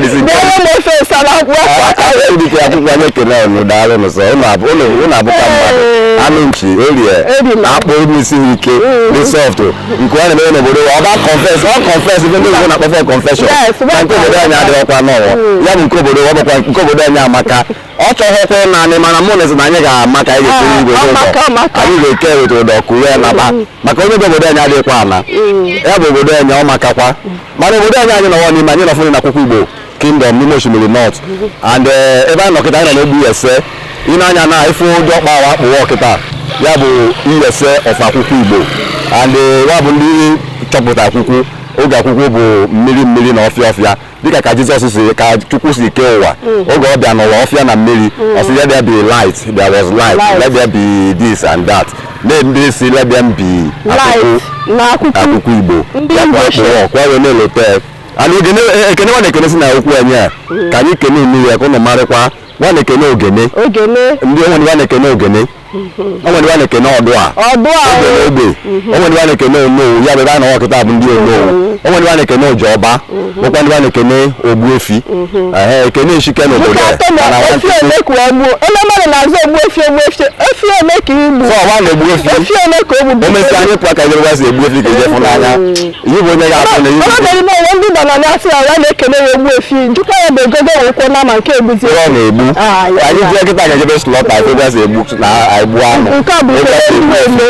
bịara m ofe nsala dịka akwukwu anyị ekele ụnụ daalụ nụ sọ ụnụ abụka mmadụ anụ nchi orie akpụ n'isi ha ike dị soft nke ọ na-eme n'obodo ọ ga confess ọ confess ife ndị obodo na-akpọfe confession na nke obodo anyị adịghịkwa n'ọnwụ ya bụ nke obodo ọ bụkwa nke obodo anyị amaka ọ chọghịkwa ịna anyị mana mụ na-esi na anyị ga-ama ka anyị ga-esiri igwe n'ụzọ anyị ga-eke weta ụdọ kuwe naba maka onye bụ obodo anyị adịghịkwa ana ya bụ obodo anyị ọ makakwa mana obodo anyị anyị nọwa n'ime anyị nọfụrụ na akwukwu igbo kingdom n'ime oshimili north and eh, ebe anyị nọ kịta anyị nọ n'ogbe iyase ịna anya na ife ụdị ọkpa awa akpụwa kịta ya bụ iyase of akwukwu igbo and eh, ya bụ ndị chọpụta akwukwu oge akwukwu bụ mmiri mmiri na ọfịa ọfịa dịka ka jizọs si ka chukwu si kee ụwa mm. oge ọ bịa n'ụwa ọfịa na mmiri mm. ọ sị let there be light there was light let there be this and that na ndị si let there be akwukwu igbo akpụọ wee na-elote and e, ekene wa na-ekene si na akwukwu anyị a mm. ka anyị kene unu ya ka ụnụ marịkwa wa na-ekene ogene ndị o nwe wa na-ekene ogene o nwere wa na-ekene ọdụa ọdụa ogbe na ogbe o nwere wa na-ekene onowu ya bụ ebe a na-awa kịta bụ ndị onowu o nwere wa na-ekene ojiọba nwekwa ndị wa na-ekene ogbuefi ehe ekene eshike n'obodo nke ya atọ na mana efi ọtụtụ- ole ka wee gbuo onye mmadụ na-aza ogbuefi ogbuefi efi ole ka i gbu sọ ọwa na ogbuefi efi ole ka o gburu o mesịa anyị pụọ ka ebe si egbu efi ka eje fụ n'anya Ihe bụ onye ga-abụ na Ọ bịara ime onwe ndị nọ na na-asị ya ya na-ekele ya ogbuefi njikwa ya bụ egogo wee kwuo na ma nke egbuzi Ihe ọ na-egbu. Ah, ya, Anyị ya. jee kịta ga-ejebe slaughter anyị fụ ebe a si egbu na egbu anụ. nke ọ bụ Ebe ekele a si ndị egbu eme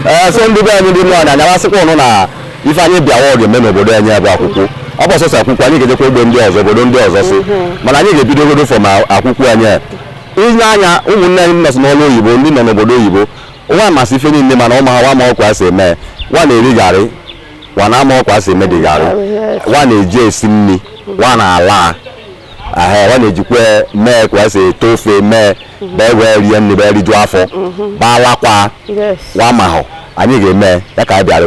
ee so ndị be anyị ndị nọ na anya m asịkwa ụnụ na ife anyị bịawa ọ ga-eme n'obodo anyị bụ akwukwu ọ bụọ sọsọ akwukwu anyị ga-ejekwa ogbe ndị ọzọ obodo ndị ọzọ si mana anyị ga-ebido godu from akwukwu anyị a. inye anya ụmụnne anyị nọ si n'ọrụ oyibo ndị nọ n'obodo oyibo wa masị ife niile mana ụmụ ha wa mahọ ka wa si eme wa na-eri garị wa na amahọ ka wa si eme dị garị wa na-eji esi nri wa na-ala ahụ wa na-ejikwa mee ka esi ete ofe mee bee wee rie nri bee rijuo afọ baalakwa wa mahụ anyị ga-eme ya ka anyị bịara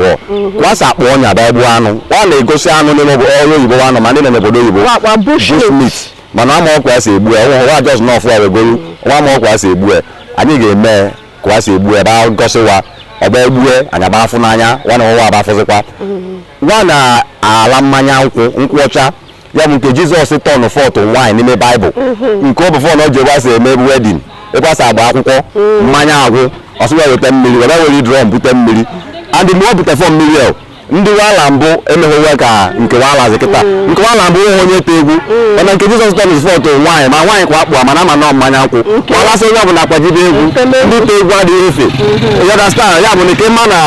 wa asa akpụ ọnya bịa gbuo anụ wa na-egosi anụ n'ime ọrụ oyibo wa anụ ma ndị nọ n'obodo oyibo bushmeat mana amahọ ka wa si egbu ya wa just na-afụ a wa egolu wa amahọ ka wa si egbu ya anyị ga-eme ka a si egbu ya ba gosi wa ọ ba egbue anyị agba afụ n'anya wa na wa abafụzịkwa wa na-ala mmanya nkwụ nkwụ ọcha ya bụ nke jizọs turn to wine n'ime baịbụl nke ọ bụ fọn ọ ji egbe asị eme wedding egbe asị agba akwụkwọ mmanya agwụ ọ sị wa weta mmiri were were drum bute mmiri and mgbe ọ bute fọ mmiri ahụ ndị wala mbụ emeghịwa ka nke wala azị kịta nke wala mbụ nweghị onye te egwu mana nke jizọs tọm is fọt nwaanyị ma nwaanyị kwa akpụ mana ama nọ mmanya nkwụ wala sị onye ọbụla akwajibe egwu ndị te egwu adịghị efe you understand ya bụ na ike mma na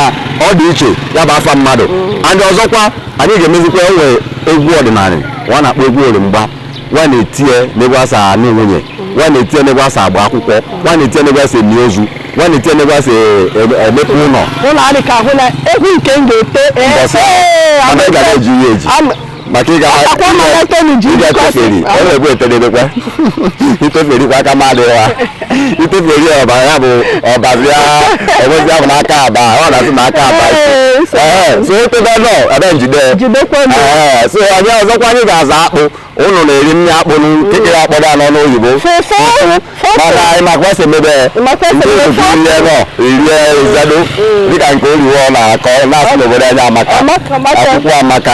ọ dị iche ya bụ afa mmadụ and ọzọkwa anyị ga-emezikwa nwee egwu ọdịnala wa na-akpọ egwu orimgba wa na-etinye n'ebe a sa anụ nwunye wa na-etinye n'ebe a sa agba akwụkwọ wa na-etinye n'ebe a sa eni ozu wa na-etinye n'ebe a sa e- emepe ụlọ ụlọ adị ka ahụ na egwu nke m ga-ete ee, Mbọsị a, ee, mana ị ga na-eji ihe eji Am- maka ịga Akwa mmadụ Tony ji ịga jikwa sị, teferi ọ na-egbu etedebekwa iteferi kwa aka mmadụ ya iteferi ọba ya bụ ọbazi ya enwezi ahụ n'aka aba ọ na-asị na aka aba so etebe nọ ebe njide so onye ọzọkwa anyị ga-aza akpụ ụnụ na-eri nri akpụ nkekere akpọdo anọ n'oyibo mana anyị makwa esi emebe ndị ozugbo ihe nọ irie ezedo dịka nke oliwo na-akọ na-asị n'obodo anyị amaka akwụkwọ amaka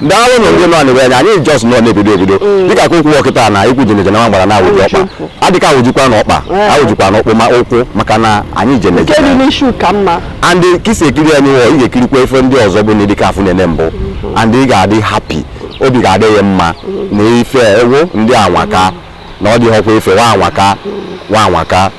daalụ na ndị nọ anyị wee anya anyị just nọ na-ebido ebido mm. dịka ka ụkwụ ọkịta na ikwu jeneje na nwa gbara na awụji ọkpa adịka awụjikwa na ọkpa awụjikwa na ọkpụ ma ụkwụ maka na anyị jeneje and ka i si ekiri anyị wụọ ị ga-ekirikwa ife ndị ọzọ bụ na dịka afụ na-ene mbụ mm-hmm. and ị ga-adị happy obi ga-adị ya mma mm-hmm. na ife ewoo ndị a anwaka na ọ dịghọkwa ife wa anwaka wa anwaka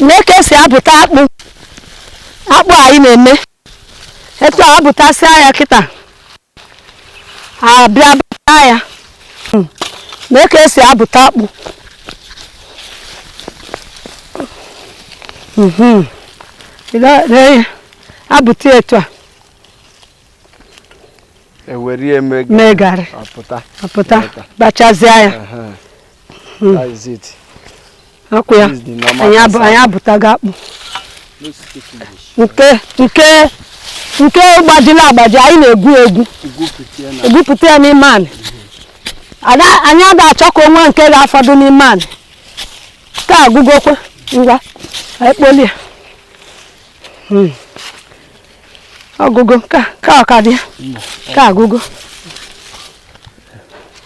nee ka esi abụta akpụ akpụ anyị na-eme etu a abụtasịa ya kịta abịa bụta ya hmm. nee ka esi abụta akpụ hmm. abụta etu a ewere mee garị apụta bachazie ya Hmm. That is it. Akwụ ya. Anyị abụtago akpụ. Nke nke nke gbajila agbaji anyị na-egwu egwu. Egwupụta ya n'ime anị. Anyị ada achọ ka o nwee nke ga-afọdụ n'ime anị. Ka agụgokwe ngwa anyị kpolie ya. Hmm. Ọgụgụ ka ka ọkadị ka agụgụ.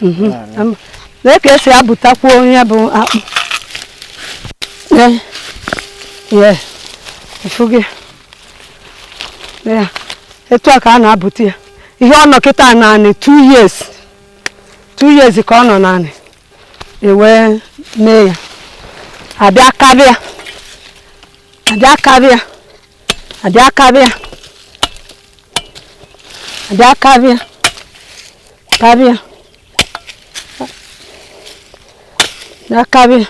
mhm. lee ka esi abụtakwa nya bụ akpụ ị fụgo ya etu a ka a na-abụta ya ihe ọ nọ kịta naanị 2 years 2 years ka ọ nọ naanị ewee mee ya abịa karịa abịa karịa abịa karịa abịa karịa abịa karịa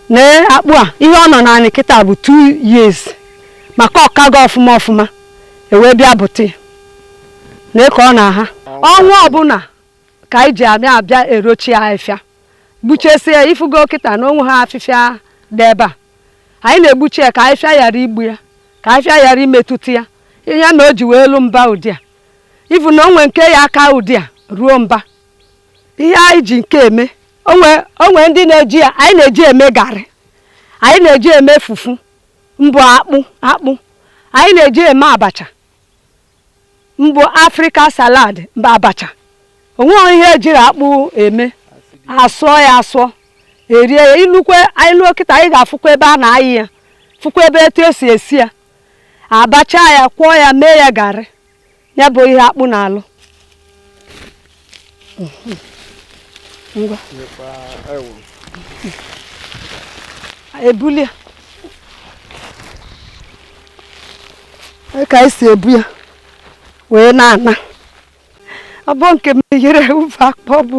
lee akpụ a ihe ọ nọ naanị kịta bụ 2 years maka ọ kago ọfụma ọfụma ewee bịa bụta ya lee ka ọ na-aha ọnwa ọbụla ka anyị ji amị abịa erochi ya afịfịa gbuchesie ya ị fụgo kịta na onwehọ afịfịa dị ebe a anyị na-egbuchi ya ka afịfịa ghara igbu ya ka afịfịa ghara imetụta ya ihe na o ji wee luo mba ụdị a ị fụ na o nwe nke ya-aka ụdị a ruo mba ihe anyị ji nke a eme o nwe ndị na-eji ya anyị na-eji eme garị anyị na-eji eme fufu mbụ akpụ akpụ anyị na-eji eme abacha mbụ africa salad mbụ abacha onweghị ihe ejighị akpụ eme asụọ ya asụọ erie ya ilukwe anyị luo kịta anyị ga-afụkwa ebe a na-ayị ya fụkwa ebe etu esi esi ya abacha ya kwọọ ya mee ya garị ya bụ ihe akpụ na-alụ ngwa ebulie ya ka esi ebu ya wee na-ana ọ bụ nke m yere ufe akpa ọ bụ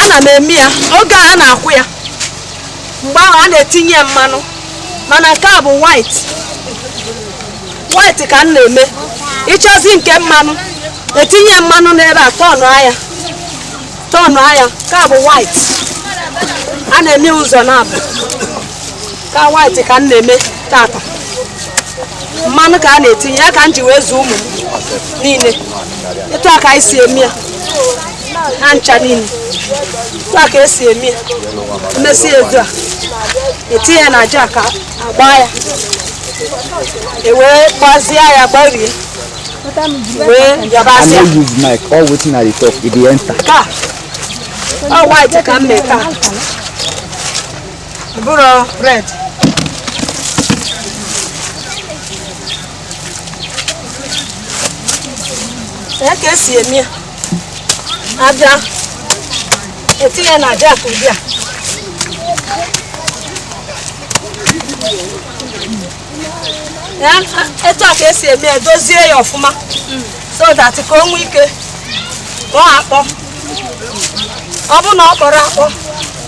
ana m eme ya oge a na-akwọ ya mgbe ahụ a na-etinye ya mmanụ mana nke a bụ white white ka m na-eme ị chọzị nke mmanụ etinye ya mmanụ n'ebe a tọnụa ya tọnụa ya nke a bụ white a na-eme ya ụzọ naabọ ka white ka m na-eme tata mmanụ ka a na-etinye ya ka m ji wee zụọ ụmụ m niile etu a ka anyị si eme ya ha ncha niile etu a ka esi eme ya emesịa etu a etinye ya na jack agbaa ya ewee gbazie ya gbarie wee yabazie ya no use mic all wetin i dey talk e dey enter. ka ọ white ka m mee taa bụrụ red ya ka esi eme ya abịa etinye ya na jack ụdị a, etu a ka esi eme ya dozie ya ọfụma so that ka o nwee ike ka ọ akpọ ọ bụ na ọ kpọrọ akpọ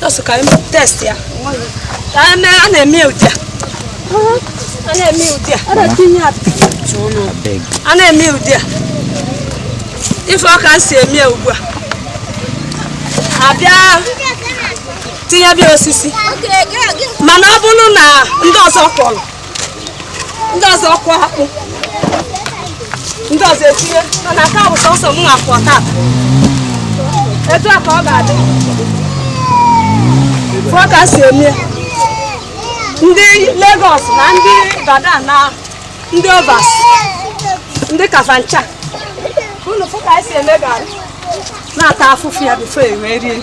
Just ka anyị test ya. A na-eme ya ụdị a. A na-eme ya ụdị a. A na-etinye ya A na-eme ya ụdị a. Ị fụ ka m si eme ya ugbu a. Abịa tinyebe ya osisi. Mana ọ bụrụ na ndị ọzọ kwọrọ ndị ọzọ kwọ akpụ ndị ọzọ etinye mana ọ ka bụ sọsọ m na-akwọ tata etu a ka ọ ga-adị fụọ ka si eme ndị Lagos na ndị Ibadan na ndị overseas ndị Kafanchan unu fụ ka si eme garị na-ata afụfụ ya before e wee rie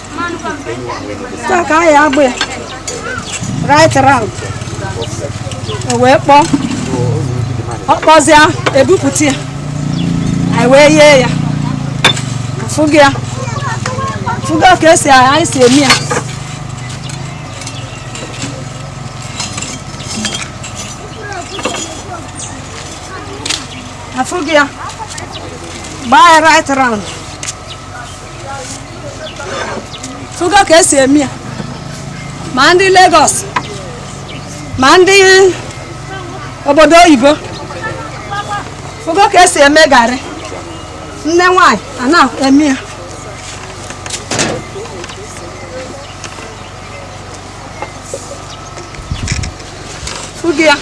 taa ka anyị agba ya right round o wee kpọọ ọ kpọzịa ebupụta ya anyị wee yee ya afụgị ya afụgị ya ka esi anyị si eme ya afụgị ya gbaa ya right round fụgo ka esi eme ya ma ndị Lagos ma ndị obodo oyibo fụgo ka esi eme garị nne nwanyị a na-eme ya Afụgị ya.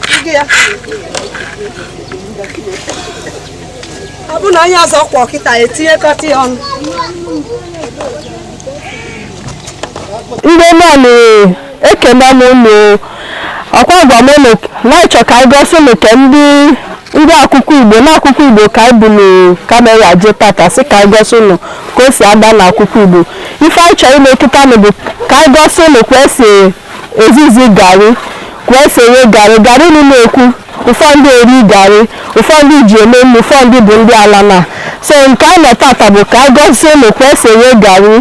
Afụgị ya. Ọ bụ na onye ọzọ kwọ kịta etinyekọta ya ọnụ. Ndị mmadụ ekene m unu ọkwa agwa m unu na achọ ka anyị gosi unu ka ndị ndị Akwukwu Igbo na Akwukwu Igbo ka anyị buru camera je tata sị ka anyị gosi unu ka o si adị na Akwukwu Igbo ife anyị chọrọ ime kịta nụ bụ ka anyị gosi unu ka esi ezizi garị ka esi eghe garị garị unu na-ekwu ụfọdụ eri garị ụfọdụ ji eme nri ụfọdụ bụ ndị ala na so nke anyị nọ tata bụ ka anyị gosi unu ka esi eghe garị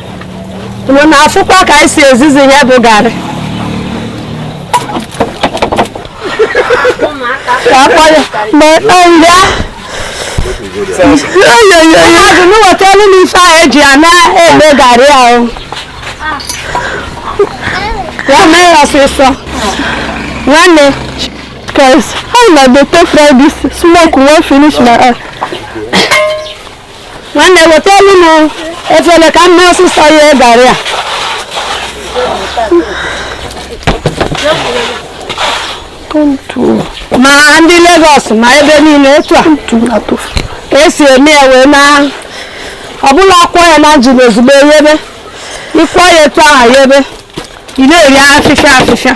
unu na-afụkwa ka anyị si ezizi ihe bụ garị ka akpọ ya ma ịta nri a mmadụ m wetara m ife anyị ji ya na-eme garị ahụ ya mee ya ọsịsọ nwanne cause how una dey take fry this smoke wan finish my eye nwanne wetaelu m efele ka m mee ọsịsọ yee garị a ma ndị Lagos ma ebe niile etu a ka esi eme ya wee na ọbụla akwọ ya na njin ozugbo eyebe ịkwọ ya etu ahụ yebe ị na-eye afịfịa afịfịa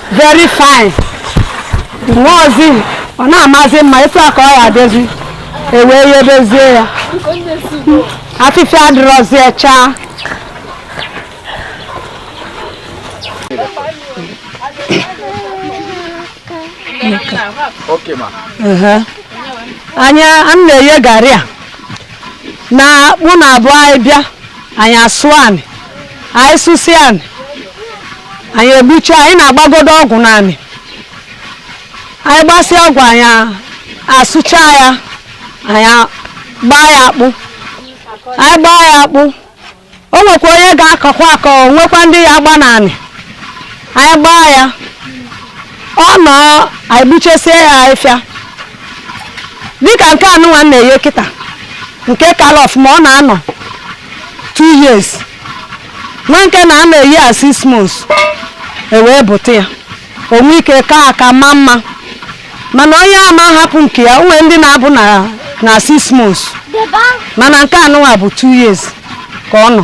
very fine nwaozi ọ na-amazi mma etu a ka ọ ya adịzi ewee yebezie ya afịfịa adịrọzi chaa anyị a na-eye garị a na akpụ na-abụ anyị bịa anyị asụọ anị anyị sụsịa anị anyị egbucha anyị na-agbagodo ọgwụ n'anị anyị gbasịa ọgwụ anyị asụcha ya anyị gbaa ya akpụ anyị gbaa ya akpụ o nwekwa onye ga-akọkwa akọ nwekwa ndị ya agba n'anị anyị gbaa ya ọ nọ anyị gbuchesie ya ahịfịa dịka nke anụnwa m na-eye kịta nke kala ọfụma ọ na-anọ 2 years nwe nke na-anọ eyi a 6 months ewee bụta ya o nwe ike ka aka ma mma mana onye ama hapụ nke ya o nwe ndị na-abụ na 6 months mana nke anụnwa bụ 2 years ka ọ nọ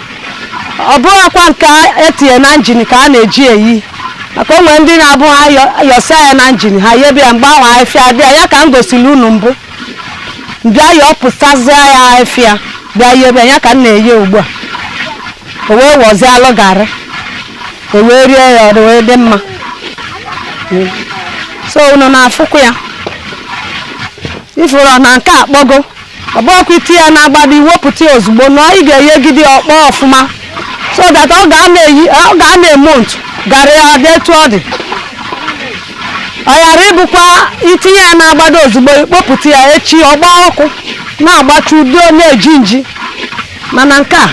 ọ bụghịkwa nke etinye na njin ka a na-eji eye maka o nwe ndị na-abụ ha yọsa ya na njin ha yebe ya mgbe ahụ ahịfịa bịa ya ka m gosiri unu mbụ bịa yọpụtazia ya ahịfịa bịa yebe ya ka m na-eye ugbu a o wee wọzialụ garị o wee rie ya o wee dị mma so unu na-afụkwa ya ịfụrụ na nke akpọgo ọ bụghịkwa itinye ya n'agbada iwepụta ya ozugbo na ị ga-eyegide ya ọ kpọọ ọfụma so that ọ ga na-eyi ọ ga-anọ month garị a dị etu ọ dị ọ ghara ịbụkwa itinye ya n'agbada ozugbo ikpopụta ya echi ọ gbaa ọkụ na-agbacha udo na-eji nji mana nke a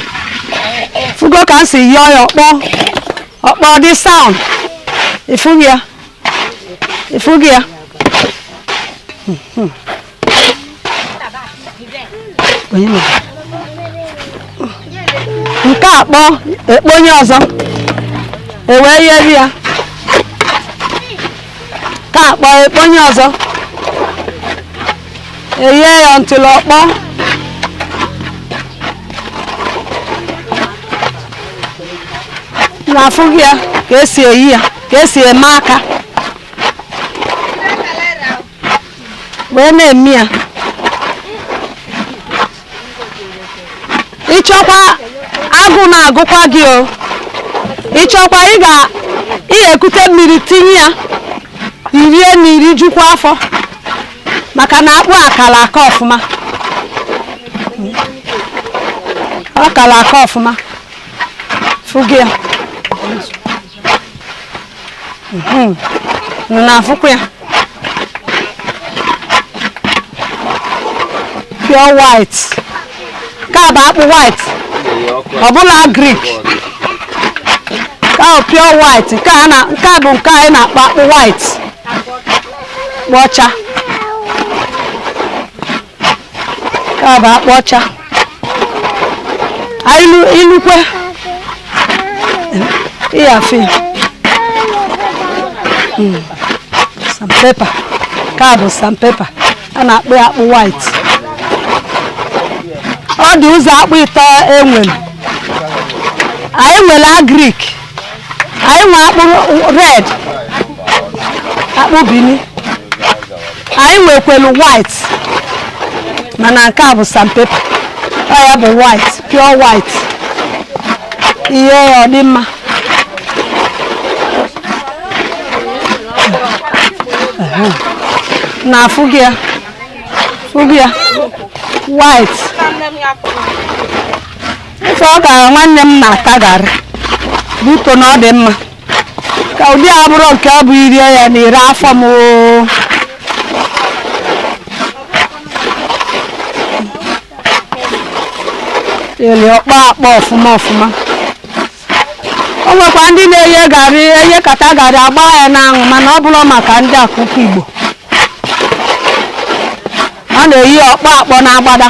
fugo ka m si yee ya ọ kpọọ ọ kpọọ dị sound ịfụghị ya ịfụghị ya nke a kpọọ ekponye ọzọ ewee yeri ya ka akpọ ekponye ọzọ eye ya ntụlụ ọkpọ na-afụ gị ya ka esi eye ya ka esi eme aka wee na-eme ya ịchọkwa agụ na-agụkwa gị o ịchọkwa ị ga ị ga-ekute mmiri tinye ya irie na irijukwa afọ maka na akpụ a kala aka ọfụma ọ kala aka ọfụma fụgị ya hmm. na-afụkwa ya pure white ka bụ akpụ white ọ bụlụ agrik ka pure white nke a bụ nke anyị na-akpọ akpụ white akpụ ọcha ka bụ akpụ ọcha ilukwe ịya fi sandpaper ka bụ sandpaper a na-akpọ ya akpụ white ọ dị ụzọ akpụ ịtọ enwere anyị nwere agrik anyị nwe akpụ red akpụ Bini anyị nwekwelu white mana nke a bụ sandpaper ọ ya bụ white pure white ihe ya ọ dị mma na afụ gị ya fụ gị ya white Ife ọ ka nwanne m na-ata garị buto na ọ dị mma ka ụdị a bụrụ nke ọ bụ irie ya na ire afọ m oo. ele ọkpọ akpọ ọfụma ọfụma o nwekwa ndị na-eye garị eyekata garị agba ya n'anwụ mana ọ bụrụ maka ndị Akwukwu Igbo ha na-eye ọkpọ akpọ na agbada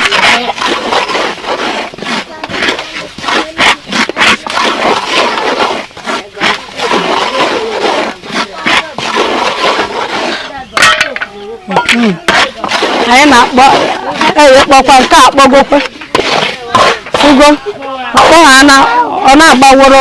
anyị na-akpọ eye kpọkwa nke a kpọgokwa fụgo ọkpọ ha na ọ na-agbaworo